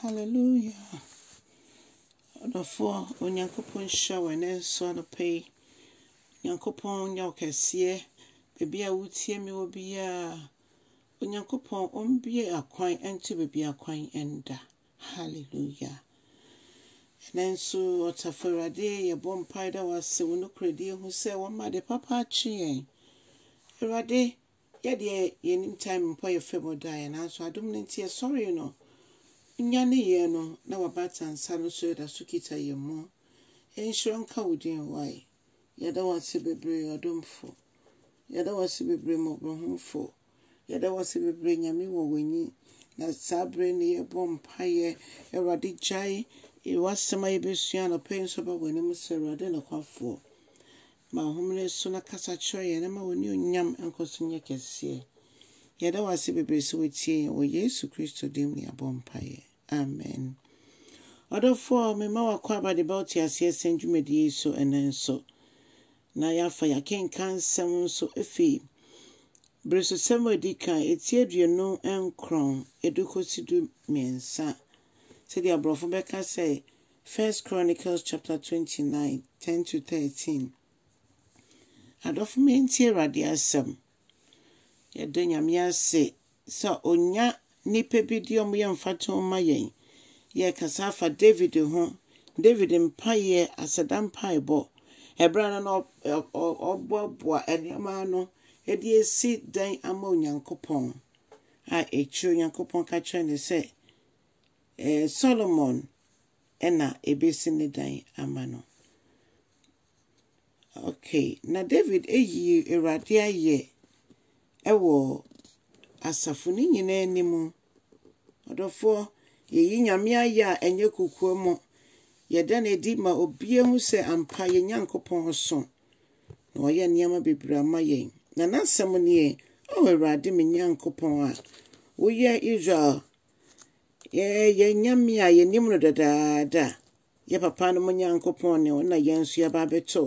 Hallelujah! Ɔdɔfoɔ, Onyankopɔn nhyira wo ɛnɛ nso anɔpa yi. Onyankopɔn nyɛ wo kɛseɛ. Baabi a wotie me wɔ biara, Onyankopɔn ɔmbue akwan nto baabi akwan nda. Hallelujah! Ɛnɛ nso, Ɔtafo Awurade, yɛbɔ mpae da wo ase wo nokorɛdie ho sɛ wama ade papa akye yɛn. Awurade, Yɛ deɛ yɛnim time mpɔ yɛ fam ɔdaeɛ nanso adom no nti yɛsɔree no nyane yɛn no na wabata nsa no so yɛda so kita yɛn mu nhyira nka wo din wae yɛda wase bebree ɔdomfo yɛda wase bebree mmɔborɔhomfo yɛda wase bebree nyame wɔ w'ani na saa bere no yɛbɔ mpaeɛ awurade gyae wasɛm a yɛbɛsua anɔpɛ yi nso ba w'anim sɛ awurade nokwafoɔ Ma ɔhomene so na kasa kyerɛ yɛn na ma w'anuonyam nkɔ so nyɛ kɛseɛ. Yɛda wo ase bebree sɛ wotie yɛn wɔ Yesu Kristo din mu na yɛabɔ mpaeɛ. Amen. Ɔdɔfoɔ, mema w'akwaaba de ba wo teaseɛ sɛn dwumadie yi so ɛnɛ nso. Na yɛafa yɛakenkan nsɛm nso afi beresosɛm a ɛdi kan, ɛti aduonu nkron, ɛdu kɔsi du mmiɛnsa. Sɛdeɛ aborɔfo bɛka sɛ First Chronicles chapter 29, 10-13 Adɔfo mentie Awurade asɛm. Yɛda Nyame ase sɛ onya nnipa bi de wɔn yɛ mfatoho ma yɛn. Yɛrekasa afa David ho, David mpaeɛ, aseda mpaebɔ, ɛberɛ a na ɔboaboa nneɛma ano de asi dan ama Onyankopɔn, a akyire Onyankopɔn ka kyerɛ no sɛ, Solomon na ebesi ne dan ama no. Okay, na David ayi Awurade ayɛ wɔ asafo no nyinaa anim. Ɔdɔfoɔ, yɛyi Nyame ayɛ a ɛnyɛ kokoam. Yɛda no adi ma obiara hu sɛ ampa yɛn Nyankopɔn so, na wayɛ nneɛma bebree ama yɛn. Na n'asɛm nie, O Awurade me Nyankopɔn a woyɛ Israel Yɛn yɛn Nyame a yɛnim no dadaada, yɛ papanom Nyankopɔn ne wo na yɛn nso yɛaba abɛtɔ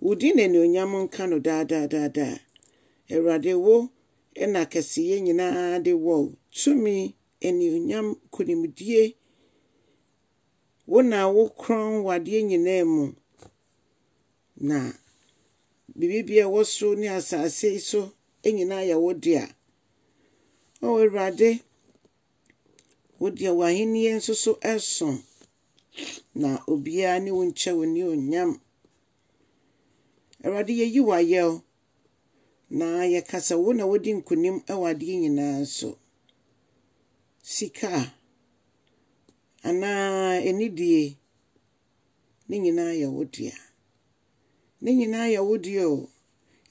wo din na anuonyam nka no daadaadaada. Awurade wo na kɛseyɛ nyinaa de wɔ tumi, anuonyam, nkonimdie. Wo na wo korɔn wɔ adeɛ nyinaa mu. Na biribi a ɛwɔ so ne asase so nyinaa yɛ wo dea. O Awurade, wo deɛ w'ahennie nso so so, na obiara ne wo nkyɛ wo anuonyam. Awurade, yɛyi wo ayɛ o, na yɛka sɛ wo na wodi nkonim wɔ adeɛ nyinaa so. Sika anaa anidie. Ne nyinaa yɛ wo dea. Ne nyinaa yɛ wo dea o.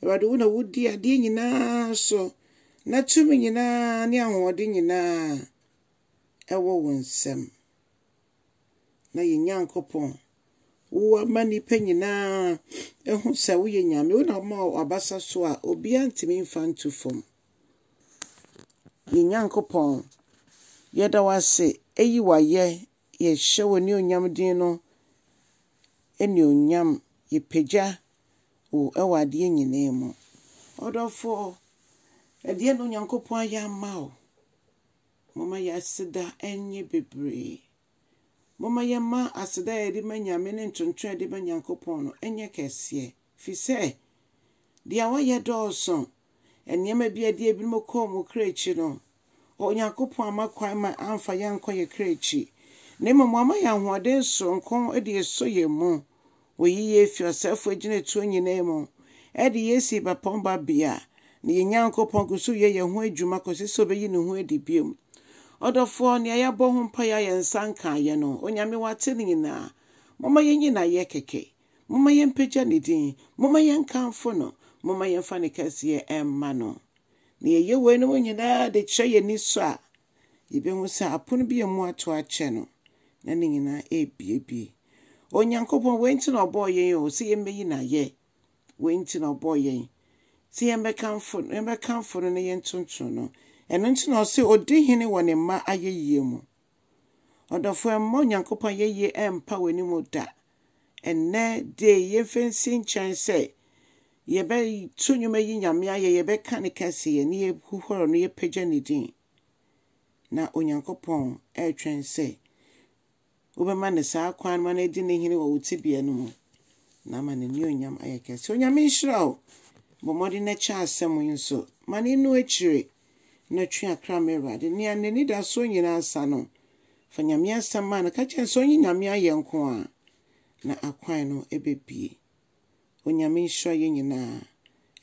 Awurade, wo na wodi adeɛ nyinaa so, na tumi nyinaa ne ahoɔden nyinaa ɛwɔ wo nsam. Na yɛn Nyankopɔn, wo ama nnipa nyinaa ɛho sɛ woyɛ Nyame. Wo na woma wabasa so a obiara ntumi mfa nto fam. Yɛn Nyankopɔn, yɛda wo ase, eyi wayɛ yɛhyɛ w'anuonyam din no anuonyam, yɛpagya wo wɔ adeɛ nyinaa mu. Ɔdɔfoɔ, ɛdeɛn na Onyankopɔn ayɛ ama wo? Momma yɛn aseda nyɛ bebree. Momma yɛmma aseda a yɛde ma Nyame ne ntontom a yɛde ma Nyankopɔn no nyɛ kɛseɛ, firi sɛ deɛ wayɛ dɔɔso, Nneɛma bi a ɛde ebinom kɔɔ wɔn kra akyi no, Onyankopɔn amma kwan ma amfa yɛn ankɔ yɛn kra akyi, na mmom wama yɛn ahoɔden soronko de asɔ yɛn mu. Oyi yɛn fi ɔsɛefo agyinatuo nyinaa mu de yɛn asi ebapɔn babea, na yɛn Nyankopɔn gu so yɛ yɛn ho adwuma kɔsi sɛ obeyi ne ho adi bio. Ɔdɔfoɔ, nea yɛabɔ ho mpaeɛ a yɛn nsa nkaeɛ no, Onyame, woate ne nyinaa. Momma yɛnyi no ayɛ kɛkɛ. Momma yɛmpagya ne din, momma yɛnkamfo no, momma yɛmfa ne kɛseyɛ mma no. Na yɛyɛ weinom nyinaa de kyerɛ yɛn ani sɔ a, yebehu sɛ apono bi a emu ato akyɛ no, na ne nyinaa abuebue. Onyankopɔn, wei nti na ɔbɔɔ yɛn o, sɛ yemmeyi no ayɛ. Wei nti na ɔbɔɔ yɛn, sɛ yɛmmɛkamfo, yɛmmɛkamfo no na yɛntontom no. Ɛno nti na ɔse odi hene wɔ ne mma ayeyie mu. Ɔdɔfoɔ mma Onyankopɔn ayɛyie ɛmpa w'ani mu da. Ɛnnɛ day yi mfa nsi nkyɛn sɛ yɛbɛto nnwom ayi Nyame ayɛ, yɛbɛka ne kɛseyɛ na yɛhuhɔrɔ no, yɛpagya ne din. Na Onyankopɔn ɛretwɛn sɛ wobɛma no saa kwan no ma no adi ne hene wɔ wo tebea no mu na ama n'anuonyam ayɛ kɛse. Onyame nhyira wo. Bɔ mmɔden na kyɛ asɛm yi nso ma no enu akyire na twe akra ma Awurade. Nea n'anidaso nyinaa sa no, fa Nyame asɛm ma no. Ka kyerɛ no sɛ ɔnye Nyame ayɛ nko a, na akwan no bɛbie. Onyame nhyira yɛn nyinaa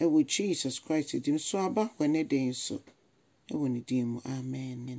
ɛwɔ Jesus Christ din mu. So aba hɔ ɛnɛ da yi nso? Ɛwɔ ne din mu, amen.